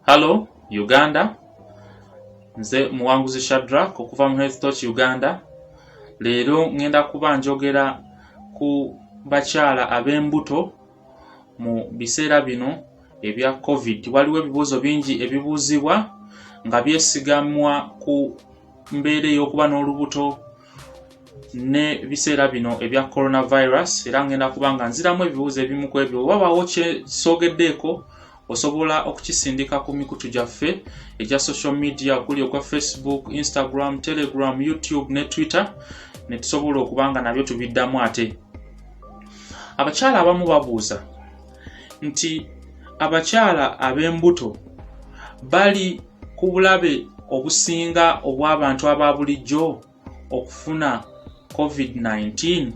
hallo uganda nze muwanguzi shadrak okuva mu health toch uganda leero ŋŋenda kuba njogera ku bakyala ab'embuto mu biseera bino ebya covid waliwo ebibuuzo bingi ebibuuzibwa nga byesigamwa ku mbeera ey'okuba n'olubuto ne biseera bino ebya coronavirus era ngenda kuba nga nziramu ebibuuzo ebimu ku ebyo oba bawo kyesogeddeeko osobola okukisindika ku mikutu gyaffe egya social media okuli ogwa facebook instagram telegram youtube ne twitter ne tusobola okuba nga nabyo tubiddamu ate abakyala abamu babuuza nti abakyala ab'embuto bali ku bulabe obusinga obw'abantu aba bulijjo okufuna covid-19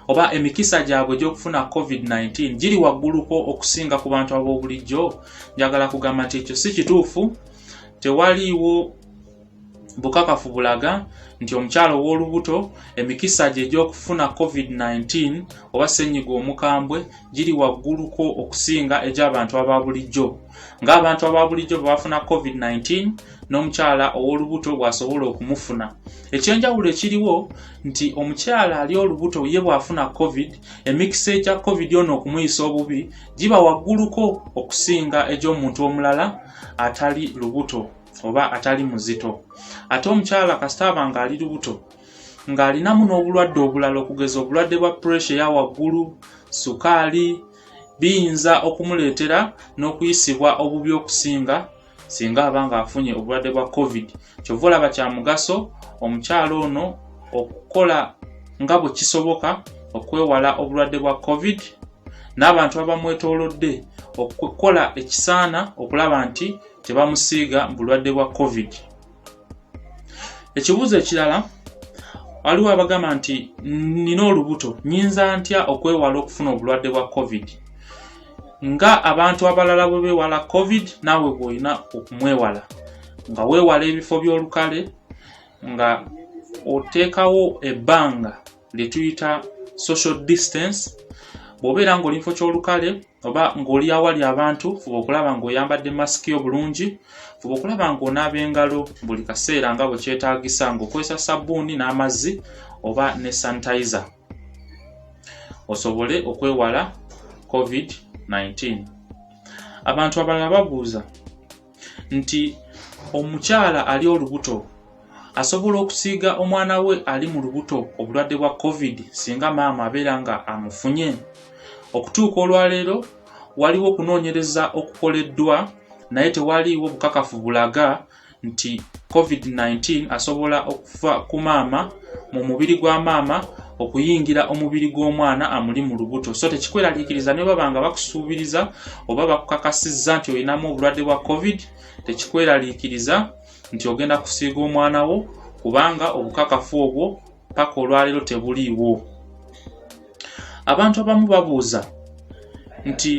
oba emikisa gyabwe gy'okufuna covid-19 giri wagguluko okusinga ku bantu ab'obulijjo njagala kugamba nti ekyo si kituufu tewaliiwo bukakafu bulaga nti omukyala ow'olubuto emikisa gye egy'okufuna covid-19 oba ssenyiga omukambwe giri wagguluko okusinga egy'abantu aba bulijjo ng'abantu ababulijjo bwe bafuna covid-19 n'omukyala ow'olubuto bw'asobola okumufuna ekyenjawulo ekiriwo nti omukyala ali olubuto ye bw'afuna covid emikisa egya covid ono okumuyisa obubi giba wagguluko okusinga egy'omuntu omulala atali lubuto oba atali muzito ate omukyala kasita aba ng'ali lubuto ng'alinamu n'obulwadde obulala okugeza obulwadde bwa puresha eya waggulu sukaali biyinza okumuleetera n'okuyisibwa obubi okusinga singa aba ng'afunye obulwadde bwa covid kyova olaba kya mugaso omukyala ono okukola nga bwe kisoboka okwewala obulwadde bwa covid n'abantu abamwetoolodde okukola ekisaana okulaba nti tebamusiiga bulwadde bwa covid ekibuuzo ekirala waliwo abagamba nti nina olubuto nyinza ntya okwewala okufuna obulwadde bwa covid nga abantu abalala bwe bewala covid naawe bwolina okumwewala nga weewala ebifo by'olukale nga oteekawo ebbanga lye tuyita social distance bw'obeera ng'oli mufo ky'olukale oba ng'oli awali abantu fuba okulaba ng'oyambadde masiki yo bulungi fuba okulaba ng'onaaba engalo buli kaseera nga bwe kyetaagisa ng'okozesa sabbuuni n'amazzi oba ne sanitiza osobole okwewala covid-19 abantu abalala babuuza nti omukyala ali olubuto asobola okusiiga omwana we ali mu lubuto obulwadde bwa covid singa maama abeera nga amufunye okutuuka olwaleero waliwo okunoonyereza okukoleddwa naye tewaliiwo bukakafu bulaga nti covid-19 asobola okuva ku maama mu mubiri gwa maama okuyingira omubiri gw'omwana amuli mu lubuto so tekikweraliikiriza ne baba nga bakusuubiriza oba bakukakasizza nti olinamu obulwadde bwa covid tekikweraliikiriza nti ogenda kusiiga omwana wo kubanga obukakafu obwo paka olwaleero tebuliiwo abantu abamu babuuza nti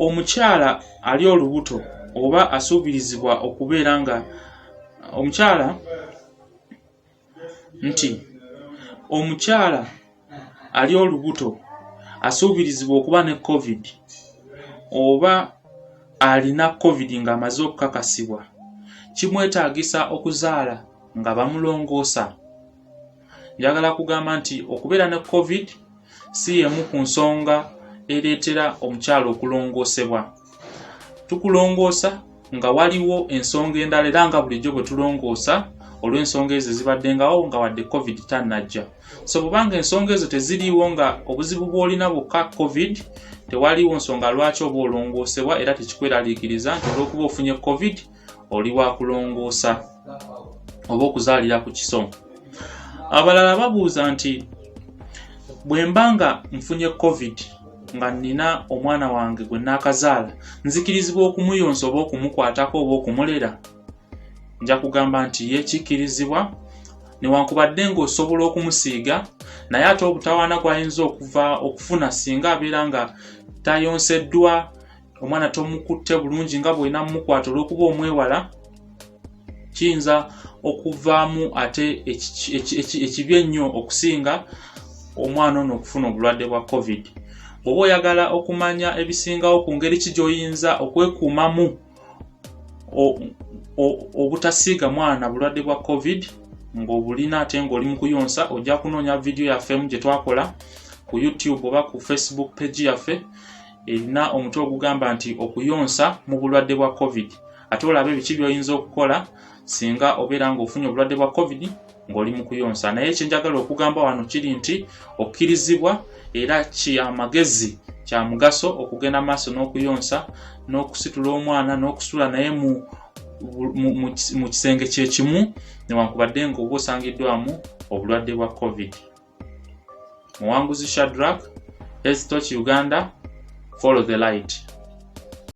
omukyala ali olubuto oba asuubirizibwa okubeera nga omukyala nti omukyala ali olubuto asuubirizibwa okuba ne covid oba alina covid ng'amaze okukakasibwa kimwetaagisa okuzaala nga bamulongoosa njagala kugamba nti okubeera ne covid si y'emu ku nsonga ereetera omukyala okulongoosebwa. Tukulongoosa nga waliwo ensonga endala era nga bulijjo bwe tulongoosa olw'ensonga ezo ezibaddengawo nga wadde covid tannajja. So bw'obanga ensonga ezo teziriiwo nga obuzibu bw'olina bwokka covid, tewaliwo nsonga lwaki oba olongoosebwa era tekikweraliikiriza nti olw'okuba ofunye covid oli wa kulongoosa oba okuzaalira ku kiso abalala babuuza nti bwe mba nga nfunye covid nga nnina omwana wange gwe naakazaala nzikirizibwa okumuyonsa oba okumukwatako oba okumulera nja kugamba nti ye kikkirizibwa newankubadde ng'osobola okumusiiga naye ate obutawaana gwayinza okuva okufuna singa abeera nga tayonseddwa omwana tomukutte bulungi nga bwolina mumukwata olwokuba omwewala kiyinza okuvaamu ate ekibi ennyo okusinga omwana ono okufuna obulwadde bwa covid oba oyagala okumanya ebisingawo ku ngeri ki gyoyinza okwekuumamu obutasiiga mwana bulwadde bwa covid ng'obulina ate ng'oli mu kuyonsa ojja kunoonya vidiyo yaffemu gye twakola ku youtube oba ku facebook page yaffe erina omutwe ogugamba nti okuyonsa mu bulwadde bwa covid ate olabe ebiki byoyinza okukola singa obeera ng'ofunye obulwadde bwa covid ng'oli mu kuyonsa naye kyenjagala okugamba wano kiri nti okkirizibwa era kyamagezi kya mugaso okugenda maaso n'okuyonsa n'okusitula omwana n'okusula naye mu mu kisenge kyekimu newankubadde ngaoba osangiddwamu obulwadde bwa covid Muwanguzi Shadrack, Hezitoki Uganda, Follow the Light.